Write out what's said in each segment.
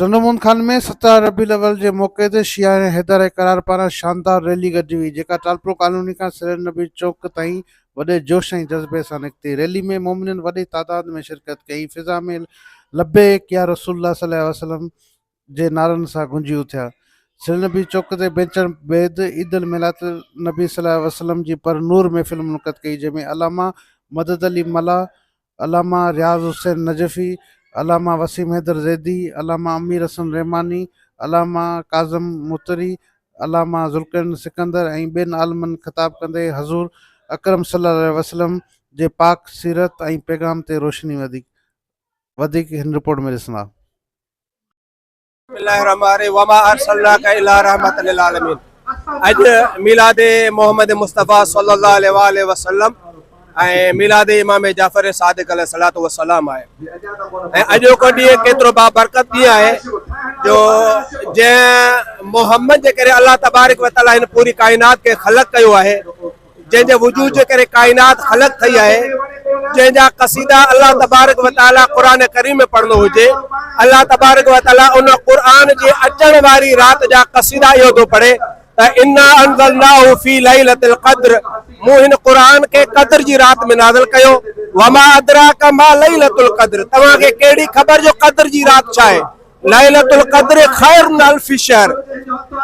ٽنڊومون خان ۾ سترهن ربيع الاول جي موقعي تي شيعا ۽ حيدر ۽ قرار پاران شاندار ريلي گڏجي هئي جيڪا ٽالپرو ڪالوني کان سر النبي چوڪ تائين وڏي جوش ۽ جذبي سان نڪتي ريلي ۾ مومنين وڏي تعداد ۾ شرڪت ڪئي ۽ فضا ۾ لبيڪ يا رسول الله صلي الله عليه وسلم جي نعرن سان گونجي اٿيا سرنبي چوڪ تي بيچڻ بيد عيد الميلاد النبي صلي الله عليه وسلم جي پر نور محفل منعقد ڪئي جنهن ۾ علامه مدد علي ملاح علامه رياض حسين نجفي، علامه وسيم حيدر زيدي، علامه امير حسن رحماني، علامه ڪاظم متري، علامه ذوالقرنين سڪندر ۽ ٻين عالمن خطاب ڪندي حضور اڪرم صلي الله عليه وسلم جي پاڪ سيرت ۽ پيغام تي روشني وڌي. وڌيڪ هن رپورٽ ۾ ڏسندا. بسم الله الرحمن الرحيم وما ارسلناك الا رحمت للعالمين اڄ ميلاد محمد مصطفيٰ صلي الله عليه واله وسلم ۽ ميلاد امام جعفر صادق عليه الصلوۃ والسلام آهي ۽ اڄو کو ڏينهن ڪيترو با برڪت ڏينهن آهي جو جنهن محمد جي ڪري الله تبارڪ وتعاليٰ هن پوري ڪائنات کي خلق ڪيو آهي جنهن جي وجود جي ڪري ڪائنات خلق ٿئي آهي، جنهن جا قصيدا الله تبارڪ و تعاليٰ قرآن ڪريم ۾ پڙهندو هجي، الله تبارڪ و تعاليٰ ان قرآن جي اچڻ واري رات جا قصيدا اهو ٿو پڙهي ته انا انزلناه في ليلة القدر مون هن قرآن کي قدر جي رات ۾ نازل ڪيو وما ادراک ما ليلة القدر توهان کي ڪهڙي خبر جو قدر جي رات ڇا آهي ليلة القدر خير من الف شهر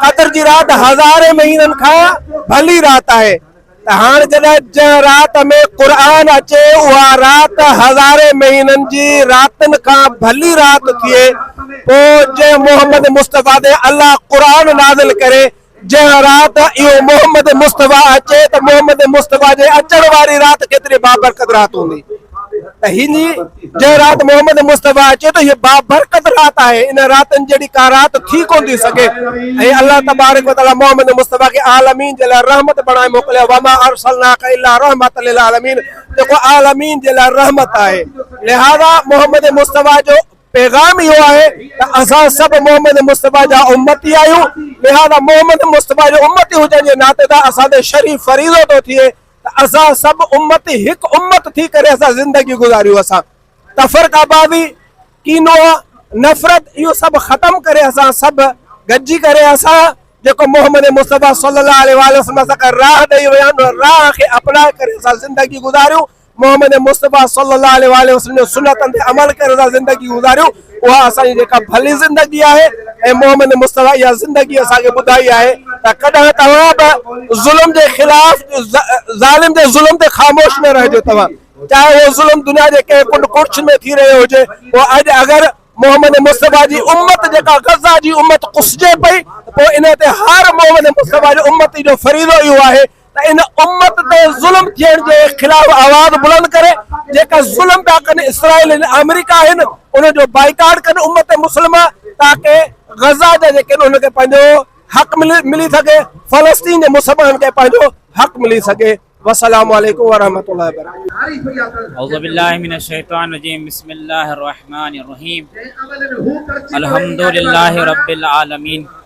قدر جي رات هزارين مهينن کان ڀلي رات آهي ته هاڻ جڏهن جنهن رات ۾ قرآن اچي اها رات هزارين مهينن جي راتن کان ڀلي رات ٿئي پوء جنهن محمد مصطفيٰ تي الله قرآن نازل ڪري جنهن رات اهو محمد مصطفيٰ اچي ته محمد مصطفيٰ جي اچڻ واري رات ڪيتري بابرڪت رات هوندي ته هي جنهن رات محمد مصطفيٰ اچي ته هي بابرڪت رات آهي ان راتن جهڙي ڪا رات ٿي ڪونه ٿي سگهي ۽ الله تبارڪ وتعالي محمد مصطفيٰ کي عالمين جي لاء رحمت بڻائي موڪليو وما ارسلناک الا رحمة للعالمين جيڪو عالمين جي لاء رحمت آهي لهذا محمد مصطفيٰ جو پيغام اهو آهي ته اسان سڀ محمد مصطفيٰ جا امتي آهيون، لهٰذا محمد مصطفيٰ جي امتي هجڻ جي ناتي تان اسان تي شرعي فريضو ٿو ٿئي ته اسان سڀ امتي هڪ امت ٿي ڪري اسان زندگي گذاريون، اسان تفرقه بازي، ڪينو، نفرت اهو سڀ ختم ڪري اسان سڀ گڏجي ڪري اسان جيڪو محمد مصطفيٰ صلّي اللّٰه عليه واٰله وسلّم اسان کي راهه ڏئي ويا آهن ان راهه کي اپنائي ڪري اسان زندگي گذاريون، محمد مصطفيٰ صلّي اللّٰه عليه واٰله وسلّم جي سنّتن تي عمل ڪري اسان زندگي گذاريون، اها اسان جي جيڪا ڀلي زندگي آهي ۽ محمد مصطفيٰ اها زندگي اسان کي ٻڌائي آهي ته ڪڏهن توهان به ظلم جي خلاف ظالم جي ظلم تي خاموش نه رهجو توهان چاهي اهو ظلم دنيا جي ڪنهن ڪنڊ ڪڙڇ ۾ ٿي رهيو هجي پوء اڄ اگر محمد مصطفيٰ جي امّت جيڪا غزّه جي امّت ڪسجي پئي ته پوء ان تي هر محمد مصطفيٰ جي امّتي جو فريضو اهو آهي ته ان امت تي ظلم ٿيڻ جي خلاف آواز بلند ڪري جيڪا ظلم پيا ڪن اسرائيل ۽ آمريڪا آهن ان جو بائيڪاٽ ڪن امت مسلمه تاڪه غزه جا جيڪي انهن کي پنهنجو حق ملي سگهي فلسطين جي مسلمانن کي پنهنجو حق ملي سگهي وسلام عليڪم ورحمة الله وبرڪاته اعوذ بالله من الشيطان الرجيم بسم الله الرحمن الرحيم الحمد لله رب العالمين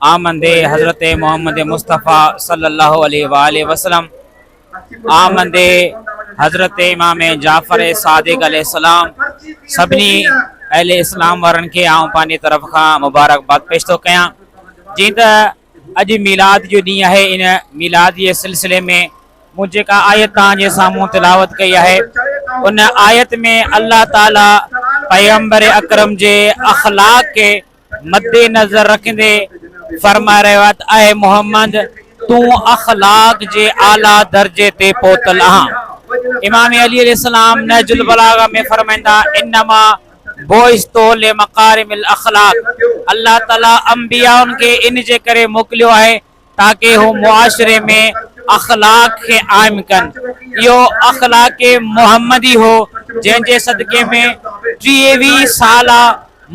آمده حضرت محمد مصطفيٰ صلّي الله عليه واٰله وسلّم آمده حضرت امام جعفر صادق عليه السّلام سڀني اهل اسلام وارن کي آئون پنهنجي طرف کان مبارڪباد پيش ٿو ڪيان جيئن ته اڄ ميلاد جو ڏينهن آهي ان ميلاد جي سلسلي ۾ مون جيڪا آيت توهان جي سامهون تلاوت ڪئي آهي ان آيت ۾ الله تعالي پيغمبر اڪرم جي اخلاق کي مدنظر رکندي فرمائي رهيو آهي ته اي محمد! تون اخلاق جي اعليٰ درجي تي پهتل آهن. امام علي عليه السلام نهج البلاغه ۾ فرمائين ٿا، انما بعثت لمڪارم الاخلاق الله تعالي انبيائن کي ان جي ڪري موڪليو آهي تاڪه هو معاشري ۾ اخلاق کي عائم ڪن. اهو اخلاق محمدي هو جنهن جي صدقي ۾ ٽيويهه سالا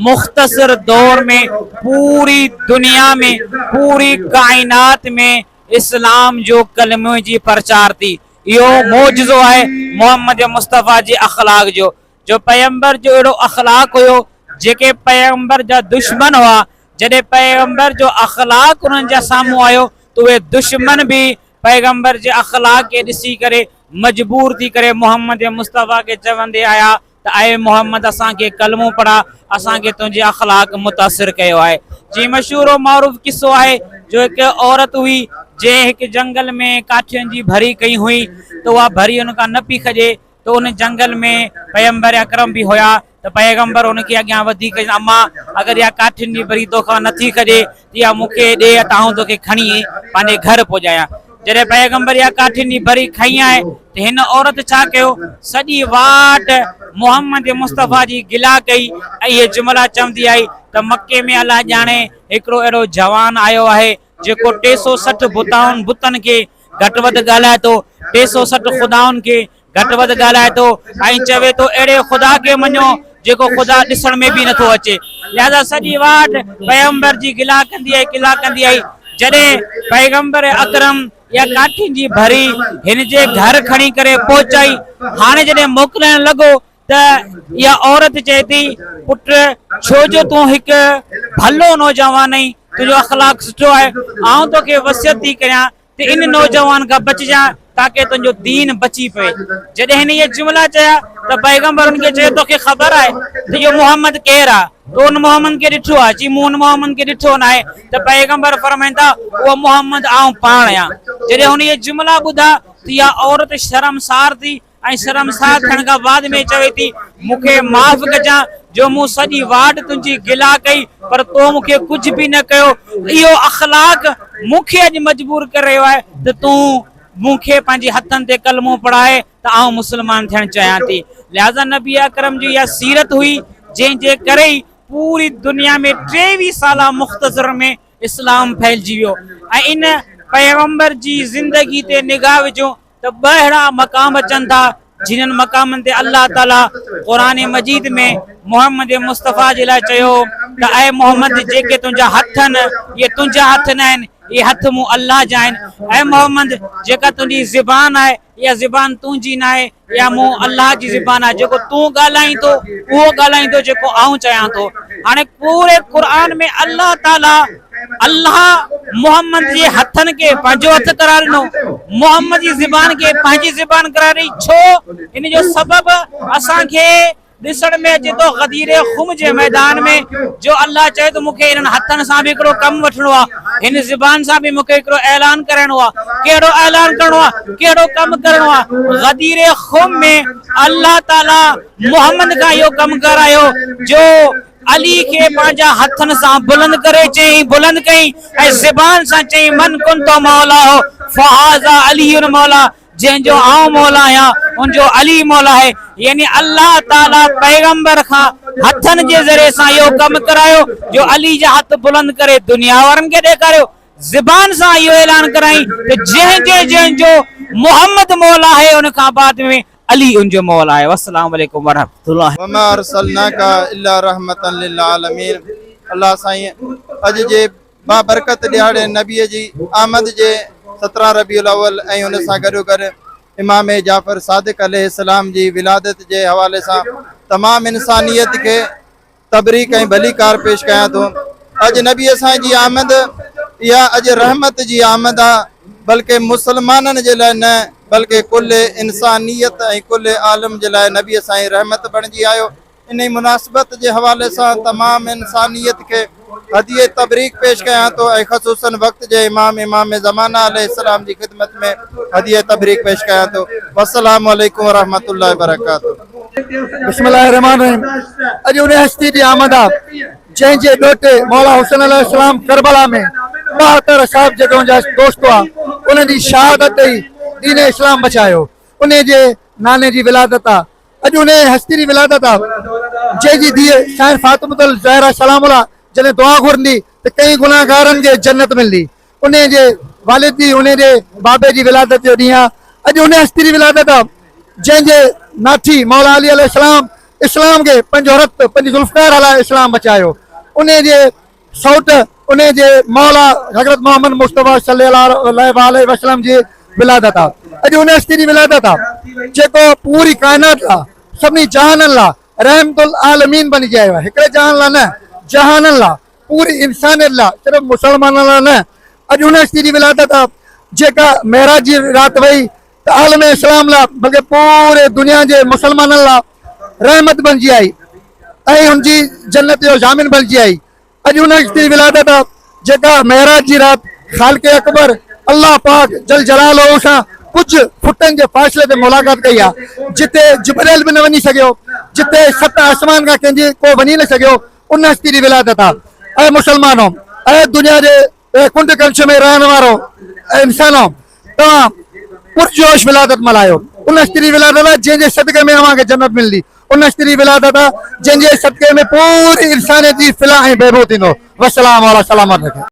مختصر دور ۾ پوري دنيا ۾ پوري ڪائنات ۾ اسلام جو ڪلمي جي پرچار ٿي. اهو معجزو آهي محمد مصطفيٰ جي اخلاق جو جو پيغمبر جو اهڙو اخلاق هيو جيڪي پيغمبر جا دشمن هئا جڏهن پيغمبر جو اخلاق انهن جا سامهون آيو ته اهي دشمن به پيغمبر جي اخلاق کي ڏسي ڪري مجبور ٿي ڪري محمد مصطفيٰ کي چوندي آيا ته اي محمد اسان کي ڪلمو پڙها اسان کي تنهنجي اخلاق متاثر ڪيو آهي جي مشهور و معروف قصو آهي جو هڪ عورت هئي جنهن هڪ جنگل ۾ ڪاٺين جي ڀري ڪئي هئي ته اها ڀري ان کان نه پئي کڄي ته ان جنگل ۾ پيغمبر اڪرم به هيا ته پيغمبر ان کي اڳيان وڌي ڪيس اما اگر اها ڪاٺين جي بري توکان نٿي کڄي ته اها مون کي ڏي ته آئون توکي کڻي پنهنجي گهر پڄايان جڏهن پيغمبر اها ڪاٺين جي بري کنئي آهي ته هن عورت ڇا ڪيو سڄي واٽ محمد مصطفيٰ جي گلا ڪئي ۽ اهي جملا چوندي آئي ته مڪي ۾ الله ڄاڻي هڪڙو اهڙو جوان آيو آهي جيڪو ٽي سو سٺ بتائن بتن کي گهٽ وڌ ڳالهائي ٿو، ٽي سؤ سٺ خدائن کي گهٽ وڌ ڳالهائي ٿو ۽ چوي ٿو اهڙي خدا کي مڃو جيڪو خدا ڏسڻ ۾ به نٿو اچي. لهذا سڄي واٽ پيغمبر جي گلا ڪندي آئي گلا ڪندي آئي جڏهن پيغمبر اڪرم اها ڪاٺين جي ڀري هن جي گهر کڻي ڪري پهچائي هاڻي جڏهن موڪلائڻ لڳو ته اها عورت چئي ٿي، پٽ ڇو جو تون هڪ ڀلو نوجوان آهين، تنهنجو اخلاق سٺو آهي، آئون توکي وصيت ٿي ڪريان ته ان نوجوان کان بچجان تاڪه تنهنجو دين بچي پوي. جڏهن هن اهي جملا چيا ته پيغمبر ان کي چيو، توکي خبر آهي ته اهو محمد ڪير آهي؟ تو ان محمد کي ڏٺو آهي؟ چي، مون ان محمد کي ڏٺو ناهي ته پيغمبر فرمائن ٿا، اهو محمد آئون پاڻ آهيان. جڏهن هن اهي جملا ٻڌا ته اها عورت شرمسار ٿي ۽ شرمسار ٿيڻ کان بعد ۾ چوي ٿي، مون کي معاف ڪجان جو مون سڄي واٽ تنهنجي گلا ڪئي پر تو مون کي ڪجهه به نه ڪيو. اهو اخلاق مون کي اڄ مجبور ڪري رهيو آهي ته تون مون کي پنهنجي هٿن تي ڪلمو پڙهاء ته آئون مسلمان ٿيڻ چاهيان ٿي. لهذا نبي اڪرم جي اها سيرت هئي جنهن جي ڪري ئي پوري دنيا ۾ ٽيويهه سالا مختصر ۾ اسلام ڦهلجي ويو ۽ ان پيغمبر جي زندگي تي نگاهه وجهون ته ٻه اهڙا مقام اچن ٿا جنھن مقامن تي الله تعالي قرآن مجيد ۾ محمد مصطفيٰ جي لاء چيو هو ته اي محمد جيڪي تنھنجا هٿ آهن اهي تنھنجا هٿ نه آهن اهي هٿ مون الله جا آهن اي محمد جيڪا تنھنجي زبان آهي اها زبان تنھنجي نه آهي اها مون الله جي زبان آهي جيڪو تون ڳالھائين ٿو اهو ڳالھائين ٿو جيڪو آئون چيان ٿو هاڻي پوري قرآن ۾ الله تعالي الله محمد جي هٿن کي پنهنجو هٿ قرار ڏنو محمد جي زبان کي پنهنجي زبان قرار ڏني ڇو ان جو سبب اسان کي ڏسڻ ۾ اچي ٿو غدير خم جي ميدان ۾ جو الله چئي ته مونکي انهن هٿن سان به هڪڙو ڪم وٺڻو آهي هن زبان سان به مونکي هڪڙو اعلان ڪرائڻو آهي ڪهڙو اعلان ڪرڻو آهي ڪهڙو ڪم ڪرڻو آهي غدير خم ۾ الله تعالي محمد کان اهو ڪم ڪرايو جو علي کي پنهنجا هٿن سان بلند ڪري چيائين، بلند ڪيائين ۽ زبان سان چيائين، من ڪنت مولاه فهذا علي مولاه، جنهن جو آئون مولا آهيان، ان جو علي مولا آهي. يعني الله تعاليٰ پيغمبر کان هٿن جي ذريعي سان اهو ڪم ڪرايو جو علي جا هٿ بلند ڪري دنيا وارن کي ڏيکاريو. زبان سان اهو اعلان ڪرايائين ته جنهن جي جنهن جو محمد مولا آهي ان کان بعد ۾ علي ان جو مول آهي والسلام عليڪم ورحمة الله. وما ارسلناک الا رحمة للعالمين الله سائين اڄ جي بابرڪت ڏهاڙي نبي جي آمد جي سترهن ربيع الاول ۽ ان سان گڏوگڏ امام جعفر صادق عليه السلام جي ولادت جي حوالي سان تمام انسانيت کي تبريڪ ۽ ڀليڪار پيش ڪيان ٿو اڄ نبي سائين جي آمد اها اڄ رحمت جي آمد آ بلڪه مسلمانن جي لاء نه بلڪه کل انسانيت ۽ کل عالم جي لاء نبي سائين رحمت بڻجي آيو انهي مناسبت جي حوالي سان تمام انسانيت کي هديه تبريڪ پيش ڪيان ٿو ۽ خصوصا وقت جي امام امام زمانه عليه السلام جي خدمت ۾ هديه تبريڪ پيش ڪيان ٿو والسلام عليڪم ورحمة الله وبرڪاته بسم الله الرحمٰن الرحيم اڄ ان هستي جي آمد آ جنهن جي ڏوهٽي مولا حسين عليه السلام ڪربلا ۾ ٻاهتر صاحب جدون جا دوست هئا انهن جي شهادت ئي دين اسلام بچايو انهي جي ناني جي ولادت آ اڄ انهي هستي جي ولادت آ جنهن جي ڌيء سائين فاطمة الزهرا سلام الله جڏهن دعا گهرندي ته ڪئين گناهگارن کي جنت ملندي انهيء جي والد جي، انهيء جي بابي جي ولادت جو ڏينهن آهي. اڄ انهيء هستي جي ولادت آهي، جنهن جي ناٺي مولا علي عليه السلام اسلام کي پنهنجو رت، پنهنجي ذوالفقار هلائي اسلام بچايو. انهيء جي سئوٽ، انهيء جي مولا حضرت محمد مصطفيٰ صلّي اللّٰه عليه وسلّم جي ولادت آهي. اڄ انهيء هستي جي ولادت آهي، جيڪو پوري ڪائنات لاء، سڀني جهانن لاء رحمت العالمين بنجي آيو آهي. هڪڙي جهان لاء نه، جهانن لاء. پوري انسانيت لا صرف مسلمانن لا نه اڄ ان هستي جي ولادت آ جيڪا معراج جي رات وئي ته عالم اسلام لا بلڪه پوري دنيا جي مسلمانن لا رحمت بنجي آئي ۽ ان جي جنت جو ضامن بنجي آئي اڄ ان هستي جي ولادت آ جيڪا معراج جي رات خالق اڪبر الله پاڪ جل جلاله سان ڪجهه فٽن جي فاصلي تي ملاقات ڪئي آ جتي جبرئيل به نه وڃي سگهيو جتي ست آسمان کان ڪنهن جي ڪو وڃي نه سگهيو ان هستي جي ولادت آ. اي مسلمانو! اي دنيا جي ڪنڊ ڪنش ۾ رهڻ وارو انسانو! توهان پرجوش ولادت ملهايو. ان هستي جي ولادت آ، جنهن جي صدقي ۾ اوهان کي جنت ملندي. ان هستي جي ولادت آ، جنهن جي صدقي ۾ پوري انسانيت جي فلاح ۽ بهبود ٿيندو. والسلام علي سلامت رکي.